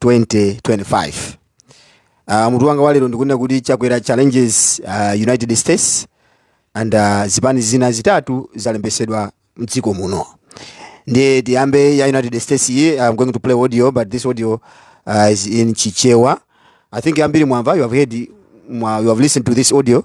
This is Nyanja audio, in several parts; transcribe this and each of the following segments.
2025 uh, mutu wanga walero ndikunena kuti chakwera challenges uh, united states and uh, zipani zina zitatu zalembetsedwa mdziko muno ndiye tiyambe ya united states iyi i'm going to play audio but this audio uh, is in chichewa i think ambiri mwamva you have heard mwa, you have listened to this audio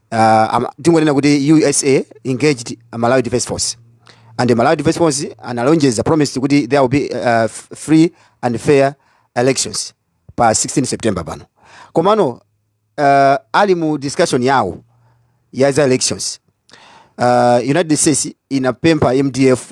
uh, ama- tingonena kuti usa engaged malawi defense force and the malawi defense force analonjeza promised kuti there will be uh, f- free and fair elections pa 16 september pano komano uh, ali mu discussion yawo ya za elections uh, united states inapempha mdf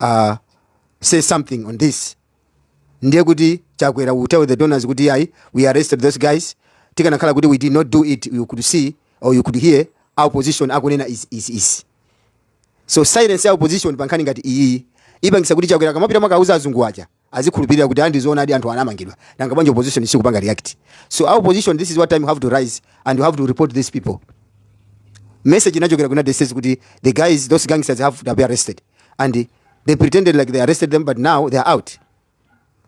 uh, say something on this ndiye kuti chakwera will tell the donors kuti ayi we arrested those guys tikanakhala kuti we did not do it you could see or you could hear opposition akunena is, is, is. so silence ya opposition pankhani ngati iyi ipangisa kuti chakwera akamapita mwakauza azungu aja azikhulupirira kuti andi zoonadi anthu anamangidwa nanga bwanji opposition sikupanga react so our opposition this is what time you have to rise and you have to report these people message inachokera ku united states kuti the guys those gangsters have to be arrested and they pretended like they arrested them but now they are out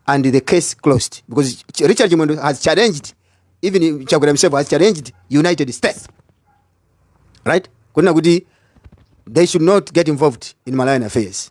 and the case closed because Ch- richard chimwendo has challenged even chakwera himself has challenged united states right kunena kuti they should not get involved in malawian affairs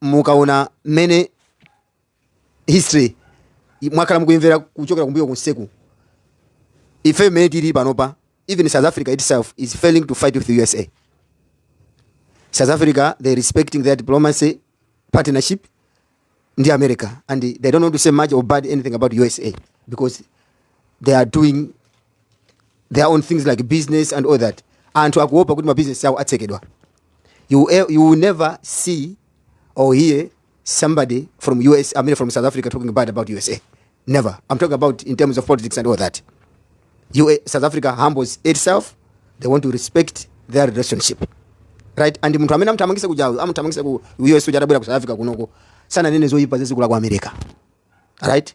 mukaona mmene history mwakhala mukuyimvera kuchokera kumbuyo kunseku ife mmene tili panopa even south africa itself is failing to fight with the usa south africa they're respecting their diplomacy partnership ndi america and they don't want to say much or bad anything about usa because they are doing their own things like business and all that anthu akuopa kuti mabusiness awo atsekedwa you, e- you will never see or hear somebody from us i mean from south africa talking bad about usa never i'm talking about in terms of politics and all that UA, south africa humbles itself they want to respect their relationship right and munthu amene amuthamangisa kujawo amuthamangisa ku us uja atabwera ku south africa kunoko sananene zoyipa zazikulu aku america right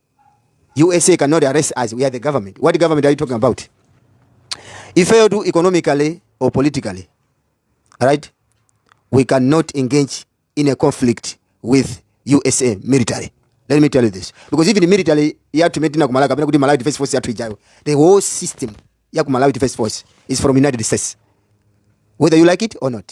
usa cannot arrest us we are the government what government are you talking about ifeyo tu economically or politically right we cannot engage in a conflict with usa military let me tell you this because even military yathu imene tinakumalawi kapena kuti malawi defense force yathu ijayo the whole system ya ku malawi defense force is from united states whether you like it or not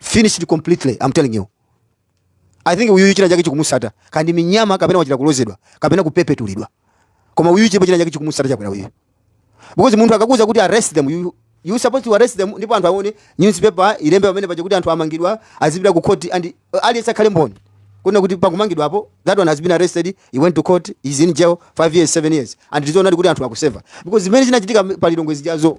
finished completely i'm telling you i think uyu china chake chikumusata kaya ndi minyama kapena wachita kulozedwa kapena kupepetulidwa koma uyu chipo china chake chikumusata chakwera uyu because munthu akakuuza kuti arrest them you you supposed to arrest them ndipo anthu aone newspaper ilembe pamene paja kuti anthu amangidwa azipita ku court and uh, aliyense akhale mboni kuona kuti pakumangidwa apo that one has been arrested he went to court he's in jail 5 years 7 years and tizoonadi kuti anthu akuseva because zimene zinachitika pa lilongwe zijazo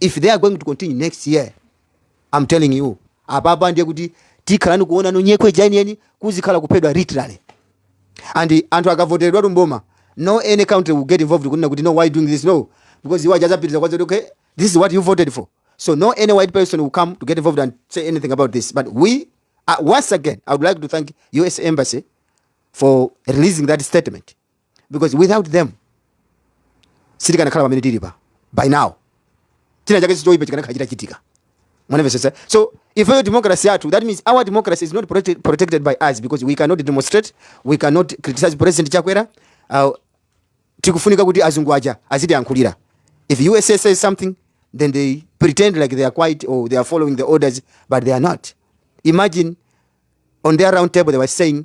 if they are going to continue next year i'm telling you apapa ndiye kuti tikhalani kuonano nyekwe jainiyeni kuzikhala kuphedwa literally and anthu akavoteredwa tumboma no any country will get involved kunena kuti no why doing this no because iwo achazapitiriza kwazoti okay this is what you voted for so no any white person will come to get involved and say anything about this but we uh, once again i would like to thank us embassy for releasing that statement because without them sitikanakhala pamene tili pa by now china chake choipa chikanakhala chitachitika mwanamvetsetsa so ifeyo democracy yathu that means our democracy is not protected, protected by us because we cannot demonstrate we cannot criticize president chakwera uh, tikufunika kuti azungu aja azitiyankhulira if usa says something then they pretend like they are quiet or they are following the orders but they are not imagine on their round table they were saying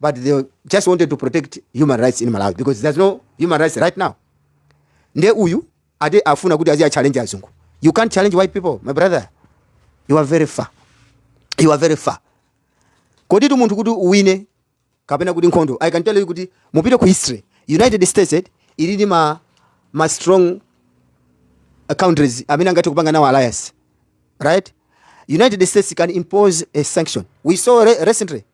but they just wanted to protect human rights in Malawi because there's no human rights right now. Nde uyu ade afuna kuti azi challenge azungu. You can't challenge white people, my brother. You are very far. You are very far. Kodi tu muntu kuti uwine kapena kuti nkhondo. I can tell you kuti mupite ku history. United States eh, ili ndi ma ma strong uh, countries amene angathe kupanga nawo alliance. Right? United States can impose a sanction. We saw re recently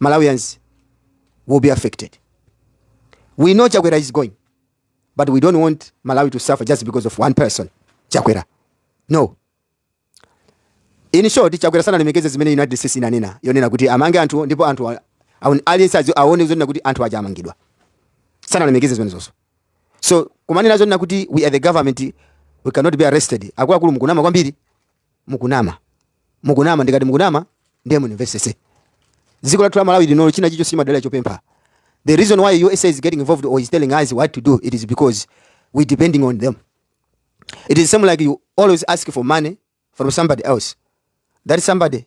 Malawians will be affected. We know Chakwera is going, but we don't want Malawi to suffer just because of one person, Chakwera. No. In short, Chakwera sanalemekeze zimene United States inanena. Yonena kuti amange anthu ndipo anthu aliyense aone zonena kuti anthu aja amangidwa. Sanalemekeze zimenezo. So kumanena zonena kuti we are the government we cannot be arrested. Akuluakulu mukunama kwambiri. Mukunama. Mukunama ndikati mukunama ndiye munimvesese. Dziko lathu la Malawi linolo china chicho simadala chopempha. The reason why USA is getting involved or is telling us what to do it is because we depending on them. It is same like you always ask for money from somebody else. That somebody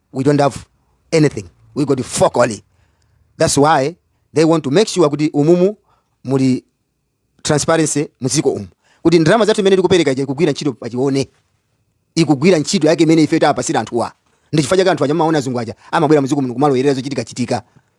we don't have anything we got fokoli that's why they want to make sure kuti umumu muli transparency muziko umu kuti ndalama zathu zimene tikupereka zija zikugwira ntchito tizione zikugwira ntchito yake imene ife tapatsira anthuwa ndi chifukwa chake anthu aja mumaona azungu aja amabwera muziko muno kumalowerera zochitika chitika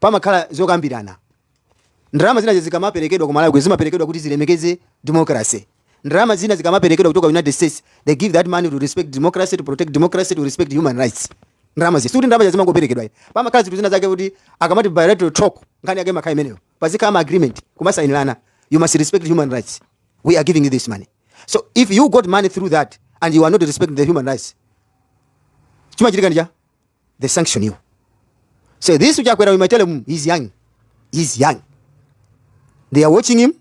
pamakhala zokambirana. Ndalama zina zikamaperekedwa ku Malawi kuno zimaperekedwa kuti zilemekeze democracy. Ndalama zina zikamaperekedwa kuchoka United States, they give that money to respect democracy, to protect democracy, to respect human rights. Ndalamazi sikuti ndalama zija zimangoperekedwa ayi. Pamakhala zinthu zina zake kuti akamati bilateral talk nkhani yake imakhala imeneyo. Pazikhala ma agreement kumasayinirana. You must respect human rights. We are giving you this money. So if you got money through that and you are not respecting the human rights, chimachitika ndi cha they sanction you. Say this which Akwera, we might tell him he's young. He's young. They are watching him,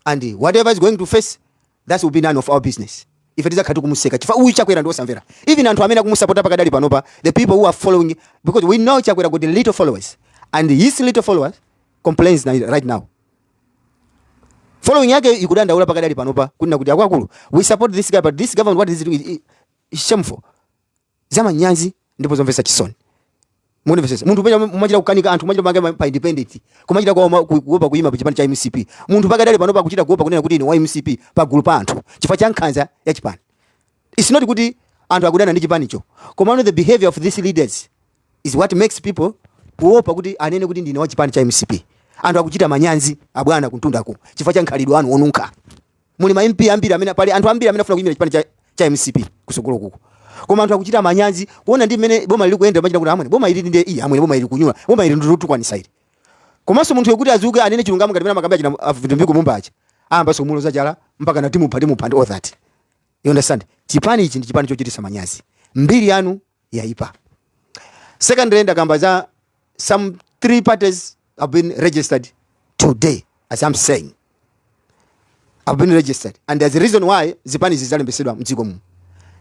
and whatever is going to face, that will be none of our business. If it is a katu kumuseka, chifa uyu Chakwera ndo samvera. Even anthu amene akumusapota pakadali panopa, the people who are following, because we know Chakwera got little followers, and his little followers complains right now. Following yake ikudandaula pakadali panopa, kunena kuti akwakulu, we support this guy, but this government what is it, it's shameful. zamanyazi ndipo zomvetsa chisoni mundimvetsetse munthu pena mumachita kukanika anthu mumachita pange pa independent kumachita kuopa kuima pachipani cha mcp munthu pakadali pano akuchita kuopa kunena kuti ine wa mcp pagulu pa anthu chifukwa cha nkhanza ya chipani it's not kuti anthu akudana ndi chipanicho komano the behavior of these leaders is what makes people kuopa kuti anene kuti ndine wa chipani cha mcp anthu akuchita manyazi abwana kumtundaku chifukwa cha makhalidwe anu onunkha Muli ma MP ambiri amene pali anthu ambiri amene akufuna kuyimira chipani cha, cha mcp kusogolo kuko koma anthu akuchita manyazi kuona ndi mmene boma ili likuyendera amachita kuti amwene boma ili ndi ayi amwene boma ili ndikunyula boma ili ndilotukwanitsa ili komanso munthu woti adzuke anene chilungamo ngati mene amakambira achina a Mtumbuka mumba aja ayamba zomuloza chala mpakana timupha timupha and all that you understand chipani ichi ndi chipani chochititsa manyazi mbiri yanu yaipa secondly ndakamba za some three parties have been registered today as i'm saying have been registered and there's a reason why zipani zidzalembetsedwa mdziko muno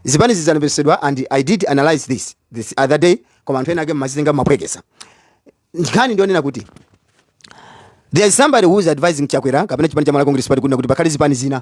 zipani zidzalembetsedwa and i did analyze this this other day koma anthu ena ake mumazitenga mumaphweketsa nkhani ndiyonena kuti there is somebody who is advising chakwera kapena chipani cha malawi congress party kunena kuti pakhale zipani zina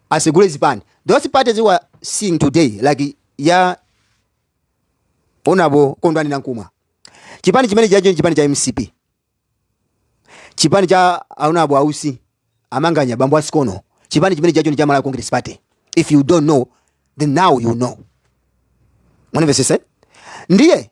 asegule zipani those parties we are seeing today like ya honourable kondwani nankhumwa chipani chimenechocho ndi chipani cha mcp chipani cha a honourable a usi amanganya bambo asikono chipani chimenechocho ndi cha malawi congress party if you don't know then now you know mundimvetsetse ndiye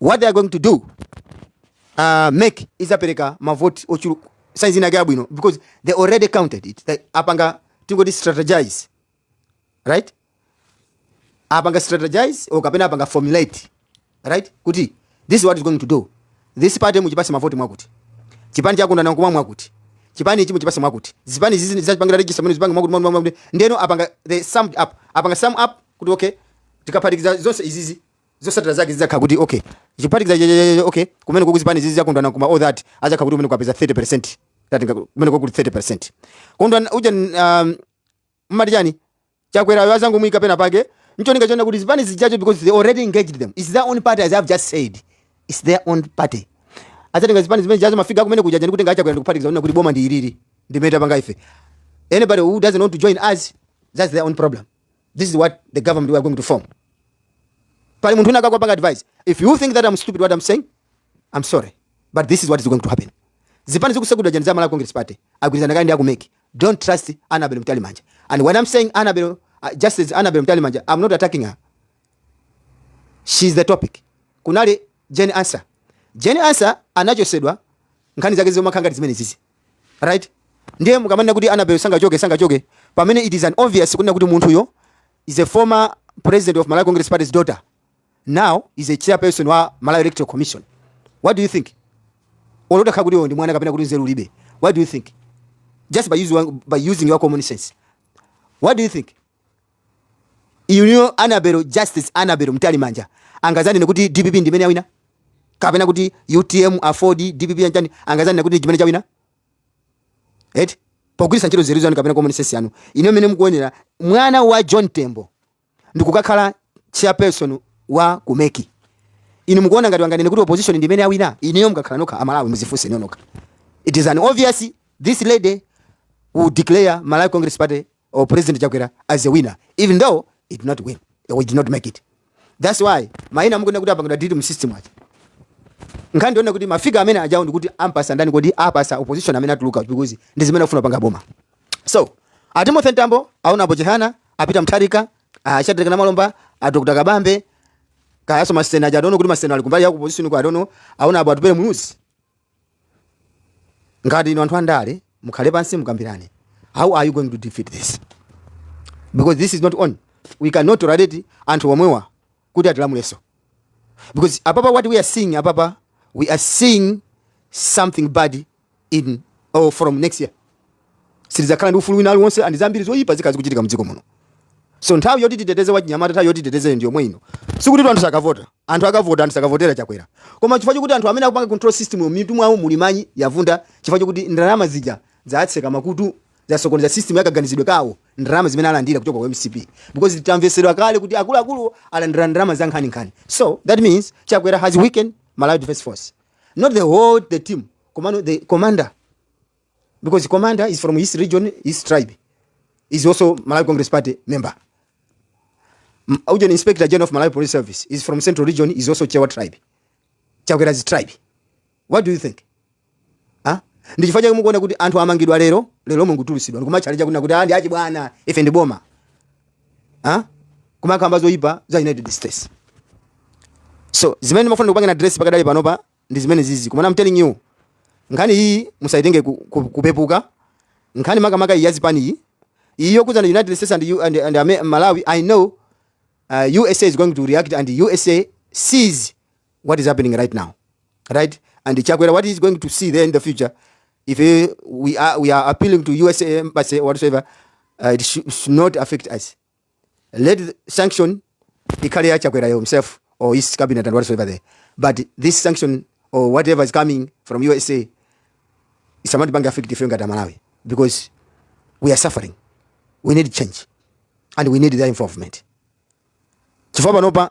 what they are going to do uh, MEC idzapereka mavoti ochuluka saizi inake yabwino because they already counted it they apanga tingoti strategize right apanga strategize or kapena apanga formulate right kuti this is what is going to do this party muchipatse mavoti mwakuti chipani cha kondwani nankhumwa mwakuti chipani ichi muchipatse mwakuti zipani izizi zachita panga register kumene zipange mwakuti mwakuti mwakuti ndiyeno apanga they summed up apanga sum up kuti okay tikaphatikiza zonse izizi zotsatira zake zidzakhala kuti okay tikaphatikiza cha- cha- cha- okay kumene kuku zipani izizi za kondwani nankhumwa all that adzakhala kuti umene kwapeza 30% that nga- kumene kukuli 30% kondwani uja um, mmati chani chakwerayo adzangomuyika pena pake ncholinga chonena kuti zipani zijazo because they already engaged them its their own party as i've just said its their own party adzatenga zipani zimene zijazo akafika kumene kujaja ndi kutenga achakwera ndikuphatikiza kunena kuti boma ndi ilili ndimene tapanga ife anybody who doesn't want to join us that's their own problem This is what the government we are going to form. Pali munthu unaka kwapanga advice. If you think that I'm stupid what I'm saying, I'm sorry. But this is what is going to happen. Zipani zikusegudwa jani za Malawi Congress Party. Agwirizana kale ndi akumeki. Don't trust Annabel Mtalimanja. And when I'm saying Annabel, uh, just as Annabel Mtalimanja, I'm not attacking her. She's the topic. Kunali Jane Ansah. Jane Ansah anachosedwa nkhani zake zomwe khangati zimene zizi. right ndiye mukamanena kuti Annabel sangachoke sangachoke pamene it is an obvious kunena kuti munthuyo is a former president of malawi congress party's daughter now is a chairperson wa malawi electoral commission what do you think olo atakhala kuti iwe ndi mwana kapena kuti nzeru ulibe what do you think just by, use, by using your common sense what do you think inuyo Annabel justice Annabel Mtalimanja angadzanene kuti dpp ndimene yawina kapena kuti utm aford dpp yanjani angadzanene kuti ndi chimene chawina eti pogwiritsa ntchito nzeru zanu kapena common sense yanu inu mmene mukuonera mwana wa john tembo ndikukakhala chairperson wa ku MEC inu mukuona ngati anganene kuti opposition ndimene yawina inuyo mukakhala nokha amalawi mudzifunse nokhanokha it is an obvious this lady will declare malawi congress party or President Chakwera as a winner, even though he did not win, or he did not make it. That's why maina mukuona kuti apangidwa delete mu system aja. Nkhani ndi yonena kuti mafiga amene ajawo ndikuti ampatsa ndani kodi apatsa opposition amene atuluka because ndi zimene akufuna kupanga boma. So, a Timothy Mtambo a honourable Chihana, a Peter Mutharika, a Shadrack Namalomba, a Dr. Kabambe, kayanso masenior aja adono kuti masenior ali kumbali ya opposition kwa adono a honourable Atupele Muluzi. ngati inu anthu andale mukhale pansi mukambirane how are you going to defeat this because this is not on we cannot tolerate anthu omwewa kuti atilamuleso because apapa what we are seeing apapa we are seeing something bad in or from next year sitidzakhala ndi ufulu wina uliwonse and zambiri zoyipa zikhala zikuchitika mdziko muno so nthawi yoti titeteze wachinyamata nthawi yoti titeteze ndi yomwe ino sikuti tu anthu sakavota anthu akavota anthu sakavotera chakwera koma chifukwa chokuti anthu amene akupanga control system yo mitu mwawo muli manyi yaovunda chifukwa chokuti ndalama zija zatseka makutu zasokoneza system yakaganizidwe kawo ndalama zimene alandira kuchoka kwa mcp because tamvetsedwa kale kuti akuluakulu alandira ndalama za nkhaninkhani so that means chakwera has weakened malawi defense force not the whole the team komano the commander because the commander is from his region, his tribe. He's also Malawi Congress Party member. M- Ujeni Inspector General of Malawi Police Service is from Central Region, is also Chewa tribe. Chakwera's tribe. What do you think? Huh? ndi chifukwa chake mukuona kuti anthu amangidwa lero lero mulungu tulutsidwa ndikumachalenja kunena kuti and zachibwana ife ndi boma Huh? kumakamba zoyipa za united states so zimene ndimafuna ndikupangeni address pakadali panopa ndi zimene zizi koma I'm telling you nkhani iyi musayitenge ku, ku, kupepuka nkhani makamaka iyi yazipani iyi iyi yokuza ndi united states and, U- and, and Ame- malawi i know uh, usa is going to react and usa sees what is happening right now right and chakwera what is going to see there in the future if eh, we are, we are appealing to usa embassy or whatsoever uh, it should, should not affect us let the sanction ikhale ya chakwera himself or his cabinet and whatsoever there but this sanction or whatever is coming from usa isamatipange affect ife ngati amalawi because we are suffering we need change and we need their involvement chifukwa panopa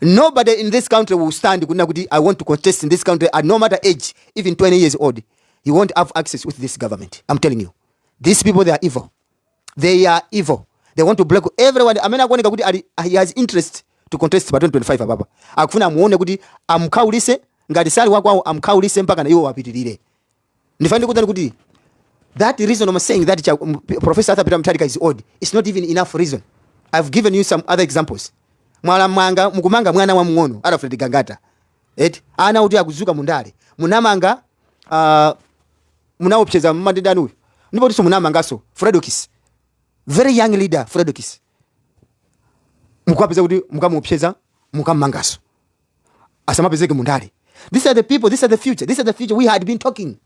Nobody in this country will stand kunena kuti I want to contest in this country at no matter age, even 20 years old. You won't have access with this government. I'm telling you. These people, they are evil. They are evil. They want to block everyone. Amene akuoneka kuti ali, he has interest to contest pa 2025 apapa. Akufuna amuone kuti amkhaulise ngati sali wakwawo amkhaulise mpaka na iwo wapitirire. ndifuna ndikuuzeni kuti that reason I'm saying that cha- m- P- professor Arthur Peter Mutharika is old it's not even enough reason I've given you some other examples mwayamba mukumanga mwana wa mng'ono Alfred Gangata eti ana oti akudzuka mundale munam'manga uh, munamuopseza matenda anuyo ndipotunso munam'manganso Fredokiss very young leader Fredokiss mukapeza kuti mukamuopseza mukam'manganso asamapezeke mundale these are the people these are the future these are the future we had been talking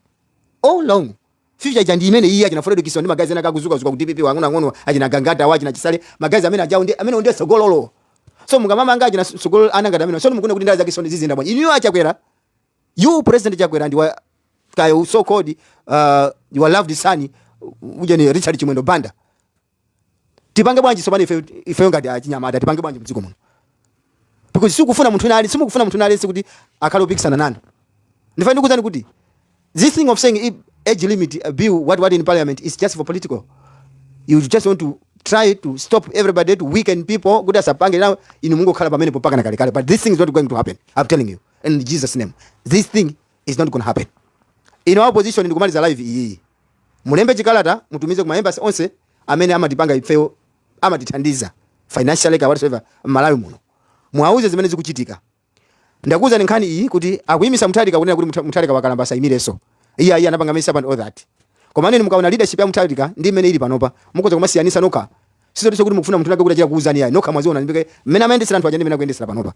all long future ija ndi imeneyi achina Fredokiss awa ndi magazi ena akudzukadzuka ku DPP wang'ono ang'ono achina Gangata wa achina Chisale magazi amene ajawo ndi amene ndiye tsogololo so mukamamanga achina tsogololo ana ngati amenewa so mukuona kuti ndale zakezo ziziyenda bwanji inu achakwera you president chakwera ndi wakoyo so called uh, your loved son ujeni Richard Chimwendo Banda tipange bwanji tsopano ife ifeyo ngati achinyamata tipange bwanji mdziko muno because simukufuna munthu wina aliyense simukufuna munthu wina aliyense kuti akhale opikisana nanu ndiye ifenso tikuuzani kuti this thing of saying if age limit uh, bill what what in parliament is just for political you just want to try to stop everybody to weaken people kuti asapange nawo inu mungokhala pamenepo mpaka kalekale but this thing is not going to happen i'm telling you in jesus name this thing is not going to happen in opposition ndikumaliza live iyiyi Mulembe chikalata mutumize ku ma embassy onse amene amatipanga ifeyo amatithandiza financially kaya whatsoever m'Malawi muno. Muwauze zimene zikuchitika. Ndakuuzani nkhani iyi kuti akuimisa Mutharika kunena kuti Mutha- Mutharika wakalamba asaimirenso. Iyayi anapanga mess up and all that. Koma aneni mukaona leadership ya Mutharika ndi imene ili panopa mukhoza kumasiyanitsa nokha. Sizotinso kuti mukufuna munthu winawake kuti achite kukuuzani yayi nokha mwaziona ndipike mmene amayendetsera anthu aja ndi mmene akuyendetsera panopa.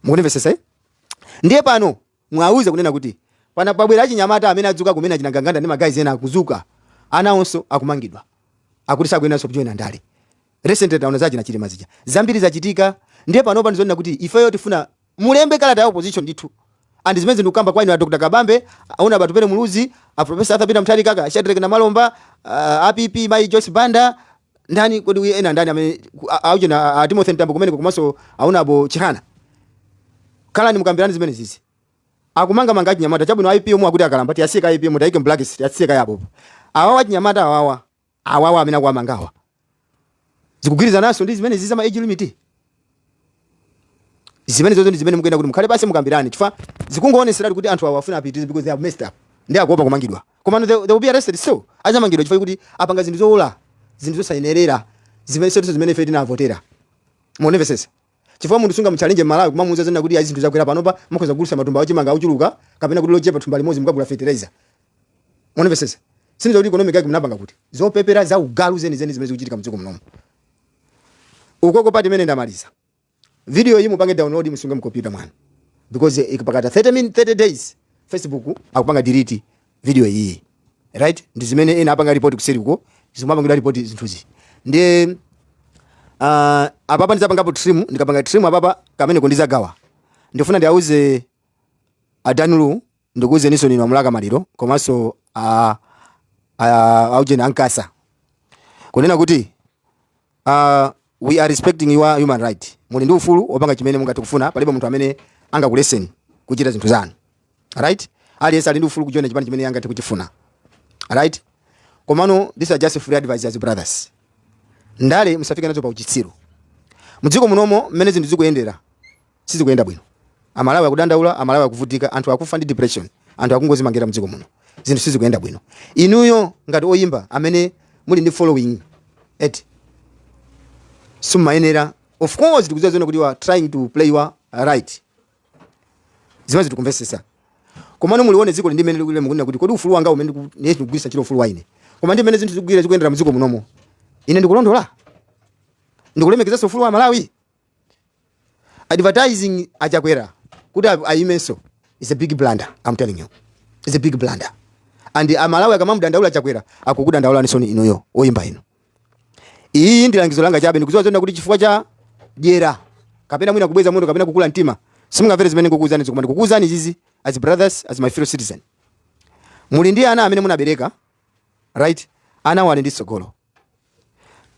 Mukundimvetsetsa eh? Ndiye pano Muwauze kunena kuti pano pabwera achinyamata amene adzuka kumene achina Ganganda ndi ma guys ena akudzuka, anawonso akumangidwa akuti sakuyeneranso kujoina ndale. Recently taona za achina Chilima zija. Zambiri zachitika ndiye panopa ndizonena kuti ifeyo tifuna mulembe kalata ya opposition ndithu and zimenezi ndikukamba kwa inu a Dr. Kabambe, a Hon. Atupele Muluzi, a Prof. Arthur Peter Mutharika, a Shadric Namalomba, a PP mayi Joyce Banda, Ndani kodi uyu ena ndani amene ku- a- auchena a- a Timothy Mtambo kumeneko komanso awo a bambo Chihana. Khalani mukambirane zimenezizi. Akumangamanga achinyamata chabwino IPM omwe akuti akalamba tiyasiye ka IPM tayike mblacks tiyasiye ka yapo. Awawa achinyamata awawa awawa amene akuwamangawa. Zikugwirizananso ndi zimenezizi za ma age limit. zimenezozo ndi zimene mukuyenera kuti mukhale pansi mukambirane chifukwa zikungoonetseratu kuti anthu awa afuna apitirize because they have messed up ndi akuopa kumangidwa koma they, they will be arrested so adzamangidwa chifukwa choti apanga zinthu zowola zinthu zosayenerera zimene sizotinso zimene ife tinavotera mukundimvetsetsa chifukwa munthu sungamutchalenje Mmalawi kumamuuza zonena kuti ayi zinthu zakwera panopa mukhoza kugulitsa matumba a chimanga ochuluka kapena kuti lochepa thumba limodzi mukagula fertilizer mukundimvetsetsa sindidziwa kuti economics yake munapangira kuti zopepera za ugalu zenizeni zimene zikuchitika mdziko munomu ukoko pa time imene ndamaliza video iyi mupange download musunge mkompyuta mwanu because ikapita 30 min 30 days facebook akupanga delete video iyi right ndi zimene ena apanga report kuseri uko zimene apangira report zinthuzi ndi uh, ah, apapa ndidzapangapo trim ndikapanga trim apapa kameneko ndidzagawa ndifuna ndiauze adanulu Ndikuuzeninso inu a Mlaka Maliro komanso a, a, a ujeni a Nkasa kunena kuti uh, we are respecting your human right. Muli ndi ufulu wopanga chimene mungathe kufuna, palibe munthu amene angakuletseni kuchita zinthu zanu. Right? Aliyense ali ndi ufulu kujoina chipani chimene angathe kuchifuna. Right? Komano these are just free advice as brothers. Ndale musafike nazo pa uchitsiru. Mdziko munomu mmene zinthu zikuyendera sizikuyenda bwino. Amalawi akudandaula, Amalawi akuvutika, anthu akufa ndi depression, anthu akungozimangirira mdziko muno. Zinthu sizikuyenda bwino. Inuyo ngati oyimba amene muli ndi following yet sumayenera of course tikudziwa zoona kuti you are trying to play your right. Zimenezo tikumvesesa. Komano mulione dziko ndi mene likuyenda mukunena kuti kodi ufulu wanga umene ndikugwirisa ntchito ufulu waine. Koma ndi mene zinthu zikugwira zikuyendera mdziko munomo. Ine ndikulondola. Ndikulemekezesa ufulu wa Malawi. advertising a chakwera kuti a- ayimenso is a big blunder i'm telling you is a big blunder and amalawi akamamudandaula chakwera akukudandaulaninso inuyo oyimba inu iyi ndi langizo langa chabe ndikuziwa zoona kuti chifukwa cha dyera kapena mwina kubweza moto kapena kukula mtima simungamvere zimene ndikukuuzanizi koma ndikukuuzani izizi as brothers as my fellow citizen muli ndi ana amene munabereka right anawo ali ndi tsogolo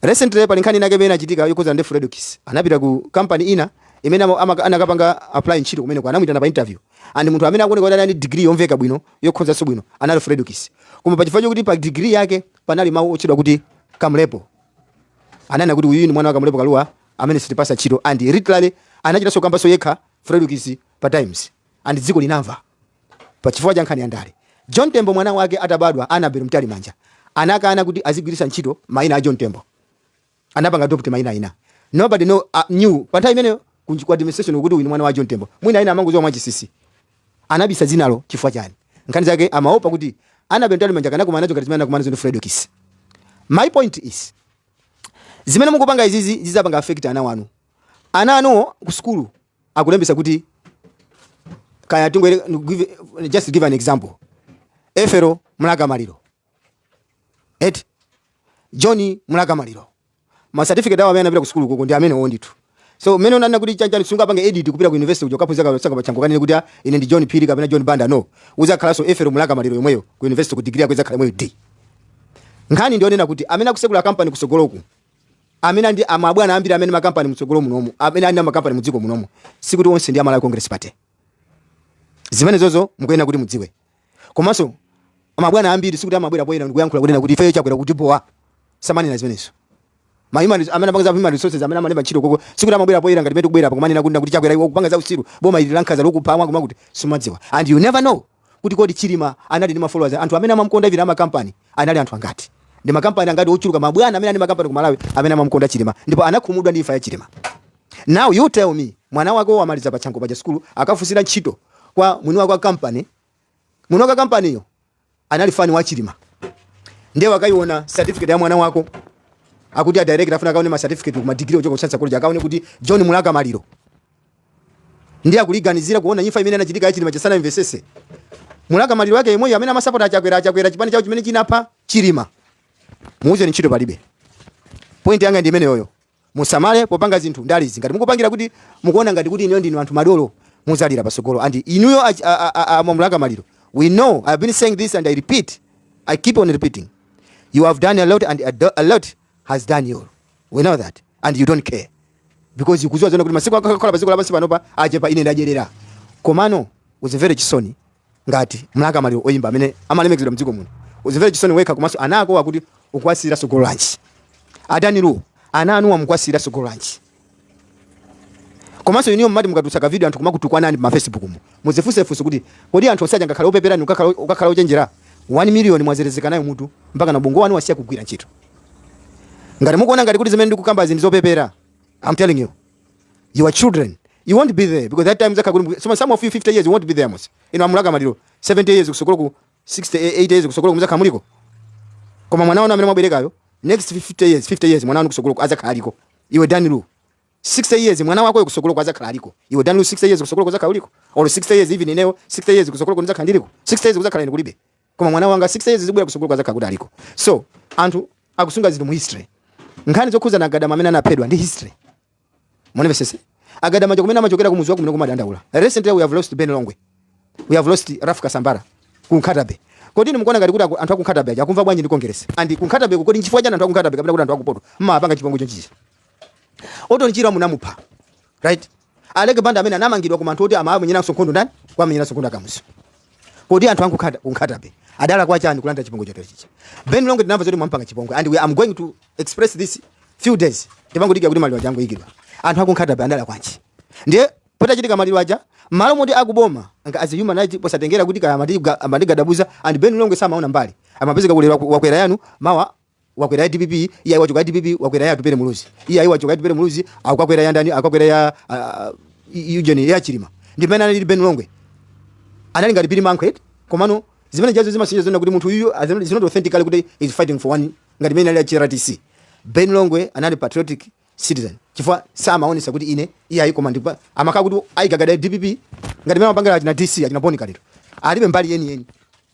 Recently pali nkhani inayake imene inachitika yokhudzana ndi Fredokiss. Anapita ku company ina imene ama- ama- anakapanga apply ntchito kumeneko anamuitana pa interview. And munthu amene akuoneka kuti anali ndi degree yomveka bwino yokhonzanso bwino anali Fredokiss. Koma pa chifukwa chokuti pa degree yake panali mawu otchedwa kuti kamlepo. Ananena kuti uyu ni mwana wa Kamlepo Kalua amene sitimpasa ntchito and literally anachita kukambanso yekha Fredokiss pa Times and dziko linamva. Pa chifukwa cha nkhani ya ndale, John Tembo mwana wake atabadwa, Annabel Mtalimanja anakana kuti azigwiritsa ntchito maina a John Tembo. Anapanga adopt maina ena. Nobody know, uh, knew. Pa nthawi imeneyo ku ku administration kuti uyu ni mwana wa John Tembo. Mwina ena amangoziwa mwachinsinsi. Anabisa dzinalo chifukwa chani? Nkhani zake amaopa kuti Annabel Mtalimanja akanakumana nazo ngati zimene anakumana nazo ndi Fredokiss. My point is, zimene mukupanga izizi zizapanga affect ana anu ana anuwo ku sukulu akulembetsa kuti kaya tingonena just give an example efero mlaka maliro et john mlaka maliro ma certificate awo amene anapita ku sukulu koko ndi amenewo ndithu so mene unganene kuti chanichani sungapange edit kupita ku university kuja kuphunzira kale sungapite pa Chanco kukanena kuti ah, ine ndi John Phiri kapena John Banda no uzakhalanso efero mlaka maliro yomweyo ku university ku degree yako izakhala yomweyo nde nkhani ndionena kuti amene akusekula company kusogoloku amene ndi amabwana ambiri amene ali makampani mtsogolo munomu amene ali ndi makampani mdziko munomu sikuti onse ndi a Malawi congress party zimenezozo mukuyenera kuti mudziwe komanso amabwana ambiri sikuti amabwera poyera ndikuyankhula kunena kuti ifeyo chakwera akutibowa samanena zimenezo ma human res- amene amapanga za human resources amene amalemba ntchito koko sikuti amabwera poyera ngati mene tikubwera pa kumanena kunena kuti chakwera iwe ukupanga za usiru boma ili lankhanza lokupha mwakuti mwakuti sumadziwa and you never know kuti kodi Chilima anali ndi ma followers anthu amene amamukonda even ama company anali anthu angati ndi ma company angati ochuluka mabwana amene anali ma company ku Malawi amene amamukonda Chilima ndipo anakhumudwa ndi imfa ya Chilima now you tell me mwana wako wamaliza pa Chanco paja sukulu akafunsira ntchito kwa mwini wake wa company mwini wake company yo anali fani wa Chilima ndiye wakaiona certificate ya mwana wako akuti a director afuna akaone ma certificate ku ma degree ochoka ku Chancellor College akaone kuti John Mlaka Maliro Ndiye akuliganizira kuona imfa imene inachitika ya Chilima Chesana imvesese. Mlaka Maliro yake yemweyo amene amasapota a Chakwera a Chakwera chipani chao chimene chinapha Chilima. Muuze ni ntchito palibe. Point yanga ndi imeneyoyo. Musamale popanga zinthu ndale izi. Ngati mukupangira kuti mukuona ngati kuti inuyo ndinu anthu madolo muzalira pasogolo and inuyo a Mlaka Maliro. We know I've been saying this and I repeat. I keep on repeating. You have done a lot and a lot as Dan Lu we know that and you don't care because ukuziwa zoona kuti masiku ako okhala paziko lapansi panopa achepa ine ndadyerera komano uzimvere chisoni ngati Mlaka Maliro oyimba amene amalemekizidwa mdziko muno uzimvere chisoni wekha komanso ana akowa kuti ukuwasiyira sogolo lanji a Dan Lu ana anuwa mukuwasiyira sogolo lanji komanso inuyo mmati mukatulutsa ka video anthu kumakutukwanani pa facebook mu muzifunse funso kuti kodi anthu onse aja angakhale opeperani ukakhala ukakhala ochenjera 1 million mwazerezeka nayo mutu mpaka na bongo wanu wasiya kugwira ntchito ngati mukuona ngati kuti zimene ndikukamba zinthu zopepera i'm telling you your children you won't be there because that time zaka kuti some, some of you 50 years you won't be there mos inu a Mlaka Maliro 70 years kusogoloku 60 80 years kusogoloku muzakhala muliko koma mwana wanu amene mwaberekayo next 50 years 50 years mwana wanu kusogolo azakhala aliko iwe dan lu 60 years mwana wako kusogoloku azakhala aliko iwe dan lu 60 years kusogoloku uzakhala uliko or 60 years even ineyo 60 years kusogolo kuzakhala ndiliko 60 years kuzakhala ine kulibe koma mwana wanga 60 years zikubwera kusogoloku azakhala kuti aliko so anthu akusunga zinthu mu history nkhani zokhuza na a Gadama amene anaphedwa ndi history mundimvesese a Gadama cha kumene amachokera kumuzi wakumene kumadandaula recently we have lost ben longwe we have lost Ralph Kasambara ku Nkhatabe kodi inu mukuona ngati kuti aku- anthu aku Nkhatabe aja akumva bwanji ndi Congress and ku Nkhatabe kodi nchifukwa chani anthu aku Nkhatabe kapena kuti anthu akumpoto mmapanga chipongwe chonchichi Orton Chirwa munamupha right Aleke Banda amene anamangidwa koma anthu oti amamenyeranso nkhondo ndani kuwamenyeranso nkhondo a Kamuzu kodi anthu aku Nkhata ku Nkhatabe adalakwa chani kulandira chipongwe choterechichi Ben Longwe tinamva zoti mwampanga chipongwe and we are going to expose this few days tipangodikira kuti maliro aja aikidwe anthu aku Nkhatabe adalakwanji ndiye Patachitika maliro aja Malo moti aku boma nga as a human right posatengera kuti kaya amati amati gadabuza and Ben Longwe samaona mbali amapezeka kuti lero wakwera yanu mawa wakwera ya DPP iyayi wachoka DPP wakwera ya Atupele Muluzi iyayi wachoka Atupele Muluzi wakakwera ya ndani wakakwera ya uh, UTM ya Chilima ndimene anali Ben Longwe anali ngati Billy Mankwet komano zimene jazo zimasonyeza zoona kuti munthu uyu is not authentically kuti is fighting for one ngati mene analili a HRDC Ben Longwe anali patriotic citizen chifukwa samaonesa kuti ine iyayi koma ndikupa amakhala kuti ayigagada dpp ngati mene amapangira achina DC achina Bon Kalindo alibe mbali yeniyeni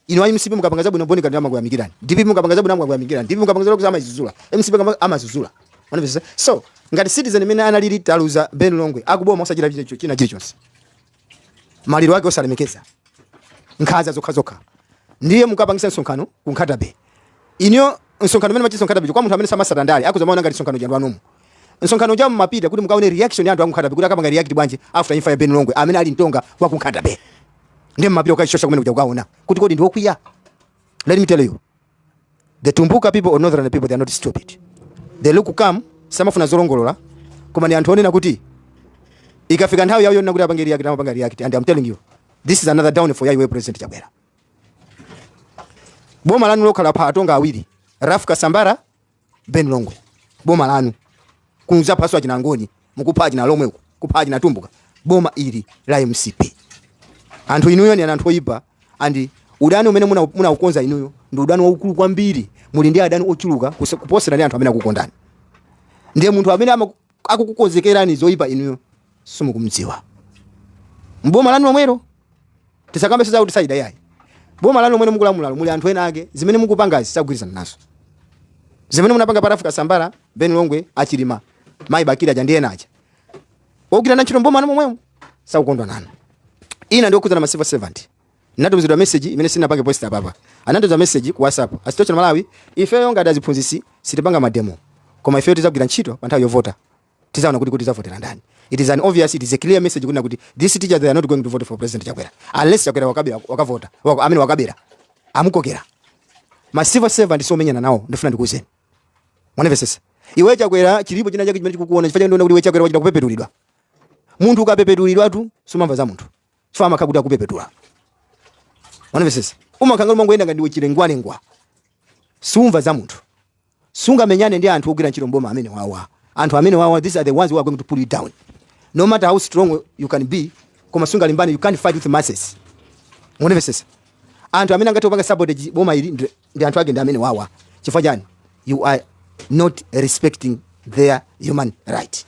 ino ayi mcp mukapanga zabwino Bon Kalindo amakuyamikirani dpp mukapanga zabwino amakuyamikirani dpp mukapanga zabwino kusama izuzula mcp kama amazuzula Unamvetsa? so ngati citizen mene analili taluza ben longwe akuboma osachita china china chilichonse maliro ake osalemekeza nkhaza zokha zokha ndiye mukapangisa msonkhano ku nkhata bay inuyo msonkhano mene machitsa nkhata bay kwa munthu amene samasata ndale akuza maona ngati msonkhano jandwa nomu msonkhano uja mumapita kuti mukaone reaction ya anthu aku nkhata bay kuti akapanga react bwanji after imfa ya Ben Longwe amene ali mtonga wa ku nkhata bay ndiye mumapita ukachosha kumene kuja kukaona kuti kodi ndiwokwiya let me tell you the tumbuka people or northern people they are not stupid they look calm samafuna zolongolola koma ndi anthu onena kuti ikafika nthawi yawo yonena kuti apange react amapanga react and i'm telling you this is another downfall ya iwe president chakwera boma lanu lokha lapha atonga awiri ralph kasambara ben longwe boma lanu kudzaphanso achinangoni mukupha achinalomwe kupha achinatumbuka boma ili la mcp anthu inuyo ni anthu oyipa and udani umene muna- munaukonza inuyo ndi udani waukulu kwambiri muli ndi adani ochuluka kuse- kuposera ndi anthu amene akukondani ndiye munthu amene ama- akukukonzekerani zoyipa inuyo simukumdziwa mboma lanu lomwero Tisakambenso zakuti side yayi. Boma lanu lomwe mukulamulalo muli anthu ena ake zimene mukupangazi sakugwirizana nazo. Zimene munapanga pa Ralph Kasambara, Ben Longwe, a Chilima, Mayi Muluzi aja ndi ena aja. Ogwira na ntchito mboma momwemo sakukondwa nanu. Ine ndi okhudzana ma civil servant. Ndinatumizidwa message imene sinapange post apapa. Anandiuza message ku WhatsApp. A Sitio Malawi, ifeyo ngati aziphunzitsi sitipanga mademo. Koma ifeyo tidzagwira ntchito pa nthawi yovota. tizaona kuti tizavotera ndani it is an obvious it is a clear message kunena kuti these teachers they are not going to vote for president chakwera unless chakwera wakabira wakavota wako, amene wakabira amukokera ma civil servant siomenyana nawo ndifuna ndikuuzeni mwanamvesesa iwe chakwera chilipo china chake chimene chikukuona chifukwa ndiona kuti iwe chakwera wachita kupepetulidwa munthu ukapepetulidwatu sumamva za munthu chifukwa amakhala kuti akupepetula mwanamvesesa umakhala ngati umangoyenda ngati ndiwe chilengwalengwa siumva za munthu sungamenyane ndi anthu ogwira ntchito mboma amenewawa anthu amenewawa these are the ones who are going to pull you down no matter how strong you can be koma sungalimbane you can't fight with masses munamvesesa anthu amene angathe kupanga sabotage boma ili ndi- ndi anthu ake ndi amenewawa chifukwa chani you are not respecting their human right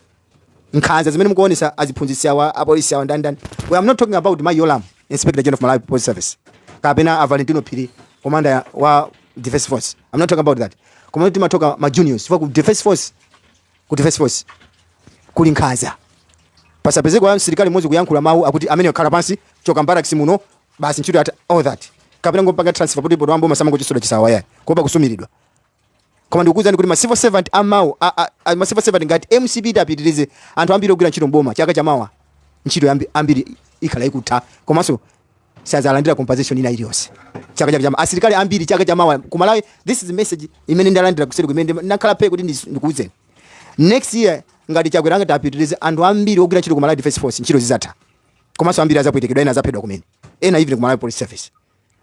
nkhanza zimene mukuonesa aziphunzitsi awa apolisi awa ndani ndani i am not talking about mayi yolamu inspector general of malawi police service kapena a valentino phiri commander ya- wa defense force i'm not talking about that koma timatoka ma juniors chifukwa ku defense force ku defense force kuli nkhanza pasapezeko ya msilikali mmodzi kuyankhula mawu akuti amene akhala pansi choka mbaraks muno basi ntchito yatha all that kapena kungompanga transfer kuti poto ambo masamangochita zinthu izi yayi kuopa kusumiridwa koma ndikukuwuzani kuti ma civil servant amawa a- a- a- ma civil servant ngati mcp itapitirize anthu ambiri ogwira ntchito mboma chaka chamawa ntchito yambi- ambiri ikhala ikutha komanso sadzalandira compensation ina iliyonse chaka chaka chamawa asilikali ambiri chaka chamawa kumalawi this is the message imene ndalandira kuseri kumene ndi- ndakhala phe kuti ndis- ndikuwuzeni next year ngati chakwera ngati apitirize anthu ambiri ogwira ntchito kumalawi defense force ntchito zizatha komanso ambiri azapwetekedwa ena azaphedwa kumene even kumalawi police service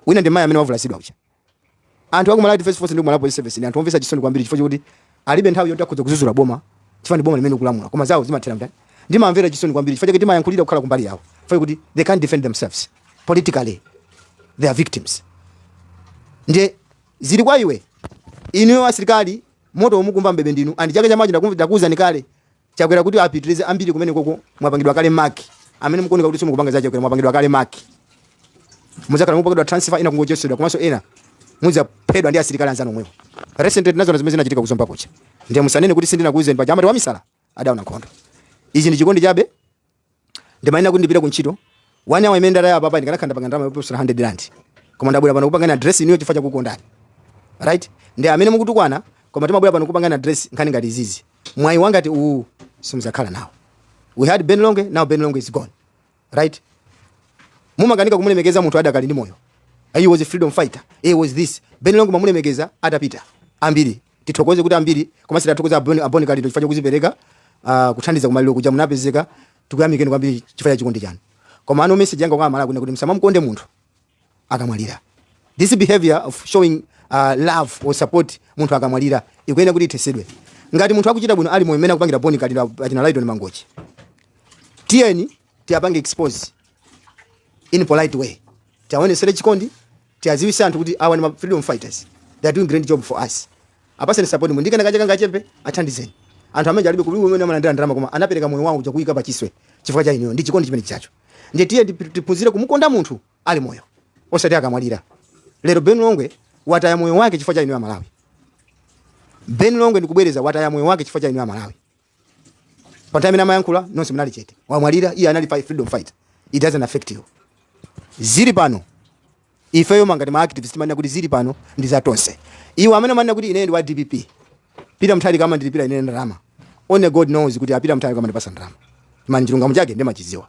wina ndi mayi amene wavulazidwa kucha anthu aku Malawi Defense Force ndi ku Malawi Police Service ndi anthu omvesa chisoni kwambiri chifukwa choti alibe nthawi yoti akhoza kuzuzula boma chifukwa ndi boma limene likulamula koma zawo zimathera mtani ndimamvera chisoni kwambiri chifukwa chake timayankhulira kukhala kumbali yawo chifukwa kuti they can't defend themselves politically they are victims ndiye zili kwa iwe inuyo asilikali moto ukumva mbebe ndinu and chaka chamawa ndakuwuzani kale Chakwera kuti apitilize ambiri kumenekoko mwapangidwa kale mark amene mukuoneka kuti simukupanga za Chakwera mwapangidwa kale mark muzakhala mupangidwa transfer ena kungochotsedwa komanso ena mudzaphedwa ndi asilikali anzanu omwewo recently tinaziona zimene zinachitika ku Zomba kucha ndiye musanene kuti sindinakuuzeni paja amati wamisala adaona nkhondo ichi ndi chikondi chabe ndimayenera kuti ndipite ku ntchito one hour imene ndatayi apapa ndikanakhala nditapanga ndalama yoposera 100 rand koma ndabwera pano kupanga address inuyo chifukwa chakukondani right ndi amene mukutukwana koma timabwera pano kupanga address nkhani ngati izizi mwayi ngati uwu simuzakhala nawo we had ben longwe now ben longwe is gone right mumakanika kumulemekeza munthu adakali ndi moyo he was a freedom fighter he was this ben longwe mwamulemekeza atapita ambiri Tithokoze kuti ambiri komanso tathokoza a Bon- a Bon Kalindo chifukwa chokuzipereka ah, kuthandiza kumaliro kuja munapezeka tikuyamikeni kwambiri chifukwa cha chikondi chanu koma no message yanga kwa amalawi kuno ndi kuti musamamkonde munthu akamwalira this behavior of showing uh, love or support munthu akamwalira ikuyenera kuti ithesedwe ngati munthu akuchita bwino ali moyo mmene akupangira Bon Kalindo achina Lytton Mangochi tiyeni tiwapange expose in polite way tiaonesere chikondi Tiaziwise anthu kuti awa ndi ma freedom fighters they are doing great job for us apatseni support ndi kenakake kangachepe athandizeni anthu amene aja alibe kulibe kumene amalandila ndalama koma anapeleka moyo wawo uja kuwuika pachiswe chifukwa cha inuyo ndi chikondi chimene chijacho ndiye tiyeni tiphunzire kumukonda munthu ali moyo osati akamwalira lero Ben Longwe wataya moyo wake chifukwa cha inuyo amalawi Ben Longwe ndikubwereza wataya moyo wake chifukwa cha inuyo amalawi. panthawi imene amayankhula nonse munali chete wamwalira iye anali fight, freedom fight it doesn't affect you tili pano ifeyo monga ngati ma activists mmanena kuti zili pano ndi za tonse iwo amene amanena kuti ine ndi wa dpp peter mutharika amandilipira ine ndalama only god knows kuti a peter mutharika amandipasa ndalama mani chilungamo chake ndimachiziwa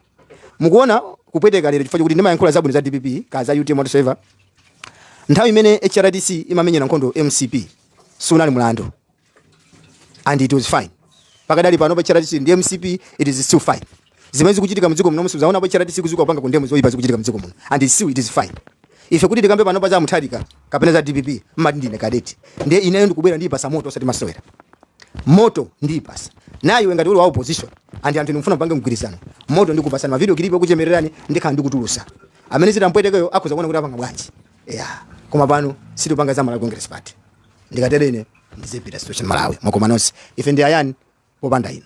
mukuona kupweteka lero chifukwa kuti ndimayankhula zabwino za dpp kaya za utm whatsoever nthawi imene hrdc imamenyera nkhondo mcp siunali mlandu and it was fine pakadali pano pa chair atsi ndi mcp it is still fine zimene zikuchitika mdziko muno simunaone pa chair atsi kudzuka kupanga condemn zoyipa zikuchitika mdziko muno and it still it is fine ife kuti tikambe pano paza mutharika kapena za dpp mmati ndine kadeti ndiye ineyo ndikubwera ndiyipasa moto osati masewera moto ndiyipasa nawe ngati uli wa opposition and anthu ndikufuna kupanga mgwirizano moto ndikupasani mavidiyo kilipo kuchemererani ndikhala ndikutulusa amene zitampwetekeyo akhoza kuona kuti apanga bwanji yeah. koma pano sitipanga za malawi congress party Ndikatere ine ndizipita Situation Malawi mwakoma nonse ife ndi ayani popanda inu.